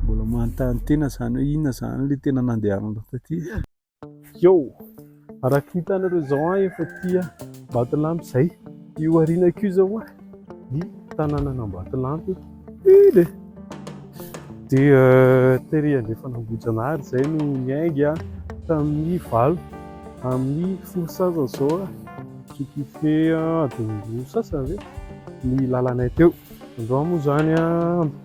mbola manontany tena zany hoe inona zany le tena nandehananao taty? Yo! Araka ny hitanareo izao an, efa aty Ambatolampy izay. Io arinako io izao an, ny tanànan'Ambatolampy. Iny e! Dia euh, tery andrefana Ambohijanahary izay no niainga an, tamin'ny valo amin'ny folo sasany izao an, ce qui fait adiny roa sasany ve ny lalanay teo. Androany moa izany an,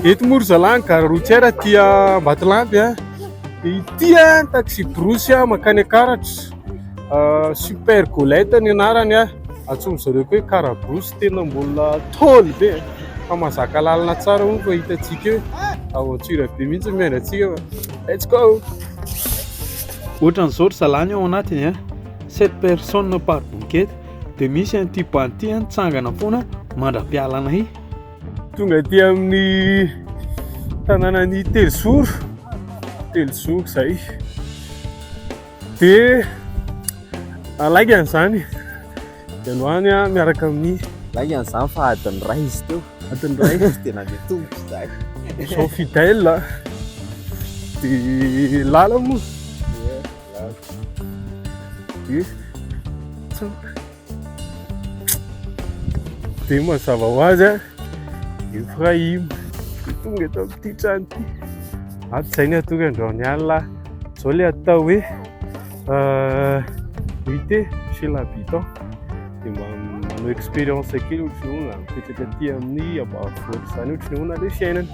Eto moa ry zalahy ny gare routière aty Ambatolampy a, dia ity a ny taxi-brousse a mankany Akaratra, Super Golette ny anarany a, antsoin'izy ireo koa hoe Car Brousse, tena mbola tôly be e, fa mahazaka lalana tsara moa fa hitantsika eo, aventure be mihitsy ny miandry antsika fa let's go! Ohatran'izao ry zalahy ny ao anatiny a, sept personnes par bouquet. dia misy an'ity banty any tsangana foana mandra-pialanay tonga aty amin'ny tanànan'ny telozoro telozoro zay dia alaigany zany dia androany a miaraka amin'ny laigany zany fa adiny ray izy teo adiny ray izy dia nandeha tomboka izay zao fidèle dia lala moa Dia mazava ho azy a, Efraim. Tonga eto amin'ity trano ity. Ato izay ny hatory androany alina. Izao ilay atao hoe nuitée chez l'habitant. Dia manao expérience kely ohatry ny hoe mipetraka aty amin'ny ambanivohitra izany ohatry ny ahoana ilay fiainana.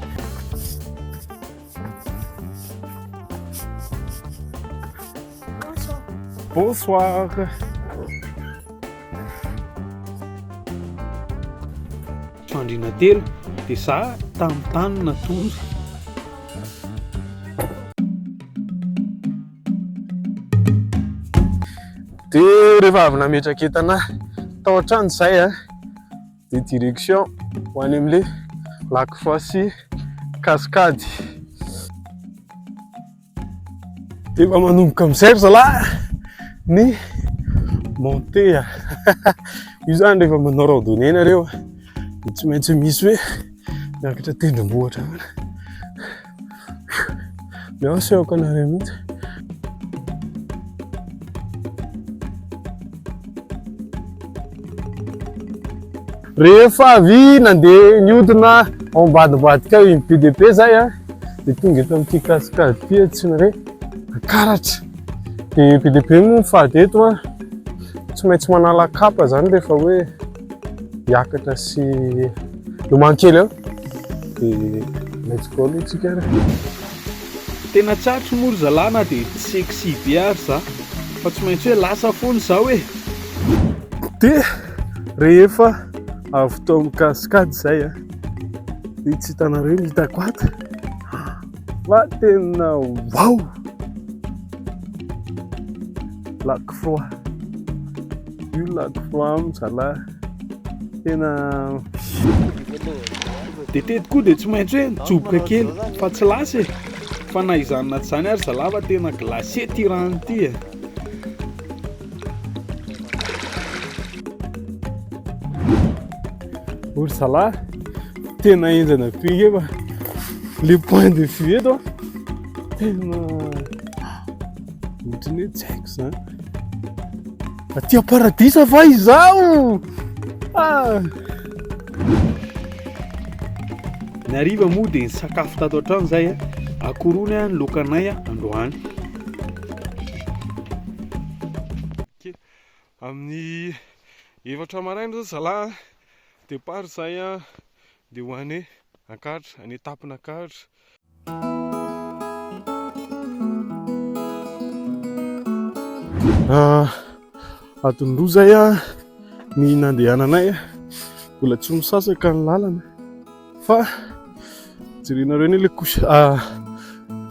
Bonsoir. Fandriana telo dia za tamin'ny tany natory. Dia rehefa avy nametraka entana tao an-trano izay a. Ah. de direction ho any amle lac foisy cascade de efa manomboka amizay ry zalahy ny monte a io zany rehefa manao randonnée nareo de tsy maintsy misy hoe miakatra tendrombohitra Merci ao Canaria mihitsy. Rehefa avy nandeha niodina ao ambadibadika ao iny PDP zay a, dia tonga eto amin'ity cascade ity atsiny re, akaratra. Dia PDP moa fahadeto a, tsy maintsy manala kapa zany rehefa hoe. Hiakatra sy lomano kely eo dia let's go aloha tsika ary. Tena tsarotra moa ry zalahy na dia tsy sexy be ary za fa tsy maintsy hoe lasa foana izaho e! Dia rehefa avy tao amin'ny cascade izay a, dia tsy hitanareo ny hitako ato fa tena wow! Lac Froid. Io lako flam zalahy. Tena Dia teto koa dia tsy maintsy hoe mijoboka kely fa tsy lasa e. Fa na izany na tsy izany ary zalahy fa tena glacé ity rano ity e. Ory zalahy, tena henjana be nge fa le point de vue eto tena ohatran'ny hoe tsy haiko izany. Aty am-paradisa va izaho? Ah! Ny hariva moa dia ny sakafo tato an-trano izay a. Akorony a, ny lokanay a, androany. Amin'ny efatra maraina izao zalahy a, départ izay a, dia ho any Ankahatra, any Tampin'Ankahatra. Ah, Adinroa zay ah, ny nandehananay ah, mbola tsy misasaka ny lalana fa jerenareo anie le couche ah,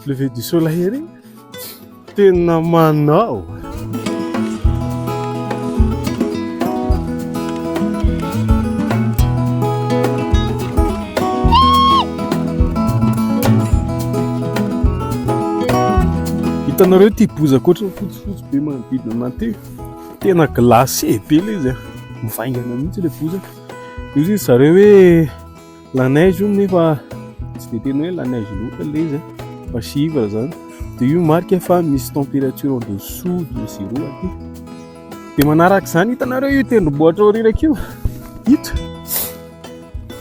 lever du soleil ery. Tena manao. Hitanareo ity bozaka ohatran'ny fotsifotsy be manodidina anay ity. Tena glacé be ilay izy, mivaingana mihitsy ilay bozaka. Io izy zareo hoe. La neige io nefa tsy dia tena hoe la neige loatra ilay izy fa chivre zany dia io marika fa misy température en dessous de zéro aty dia manaraka izany hitanareo io tendrombohitra aorianako io ito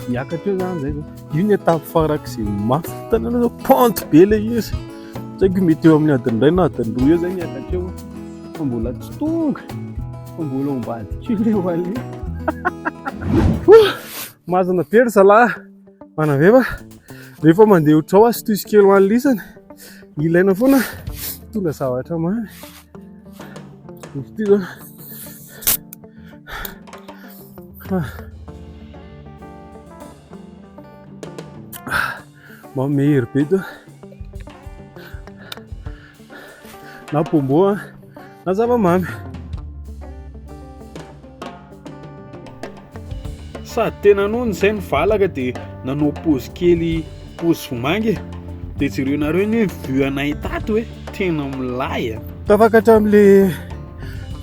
miakatra eo zany zay io ny étape farak'izay mafy hitanareo zao pente be ilay izy tsy haiko mety eo amin'ny adiny iray na adiny roa eo zay miakatra eo fa mbola tsy tonga fa mbola ambadika eo ilay vallée Mazana be ry zalahy manaveva rehefa mandeha otrao azy toy kely ho an'ny lisany ilaina foana tondra zavatra mamy izy ah. Mba mehery be to. Na pombo a, na zavamamy. Sady tena nono izay ny valaka dia nanao pause kely pause vomanga e. Dia jereo nareo ny hoe vue anay tato hoe tena milay a. Tafakatra amin'ilay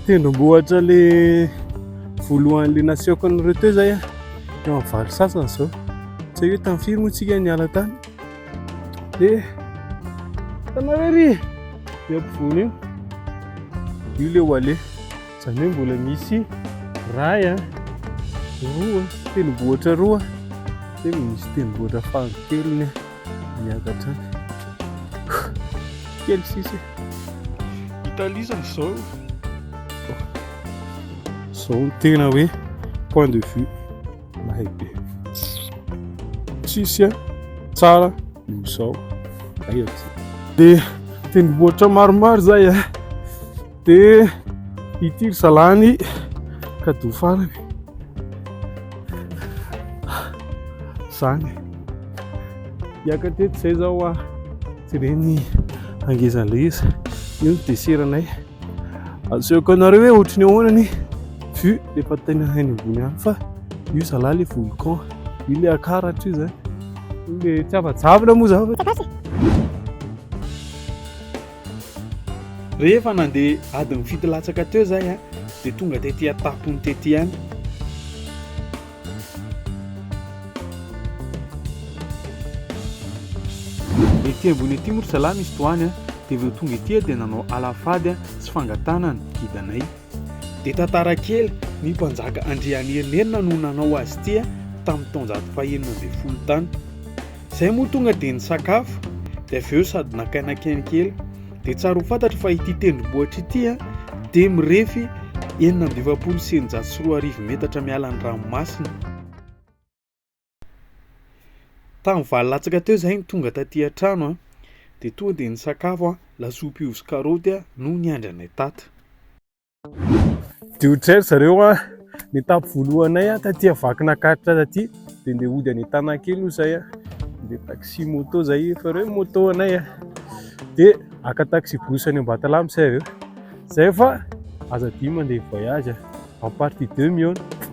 tendrombohitra le voalohany le nasehoko anareo teo zay a. Eo amin'ny valo sasany izao. Tsy hoe tamin'ny firy moa tsika niala tany. Dia tanareo ery eo ampovoany io. Io le ho ale. Izany hoe mbola misy ray a, roa, tendrombohitra roa. Dia misy tendrombohitra fahakeliny miakatra any. Kely sisa. Italie zany izao. Izao no tena hoe point de vue. Mahay be. Tsisy tsara no sao. Ay aty. Dia tendrombohitra maromaro zay a. Dia ity ry zalany kadoa farany. Zany. Hiaka teto zay zao a. Jereny angezan'ilay izy. Io ny deseranay. Asehoko anareo hoe ohatry ny ahoana ny vue rehefa tena any ambony any fa io zalahy le volcan io le akaratra io zay le tsy afa-javona moa zany rehefa nandeha adin'ny fito latsaka teo zay a dia tonga tety an-tampony tety ihany Ety ambony ety moa ry zalahy misy tohany a! Dia vao tonga ety aho dia nanao alafady a! sy fangatahana ny gidanay. Dia tantara kely, ny mpanjaka Andrianerinirina no nanao azy ity a! tamin'ny taonjato fahenina ambin'ny folo tany. Izay moa tonga dia nisakafo, dia avy eo sady nakainakaina kely. Dia tsara ho fantatra fa ity tendrombohitra ity dia mirefy enina amby efapolo sy eninjato sy roa arivo metatra miala ny ranomasina. Tamin'ny valo latsaka teo izay ny tonga taty an-trano dia tonga dia nisakafo lasopy ovy sy karaoty no niandry anay tato. Dia ho jery zareo an, ny etape voalohanay an, taty Vakinankaratra taty, dia ndeha hody any Antanakely hoy izay an, ndeha taxi moto izay efa ireo ny moto anay an, dia haka taxi bus any Ambatolampy izay avy eo, izay fa aza adino mandeha voyage an, en partie deux mihaona.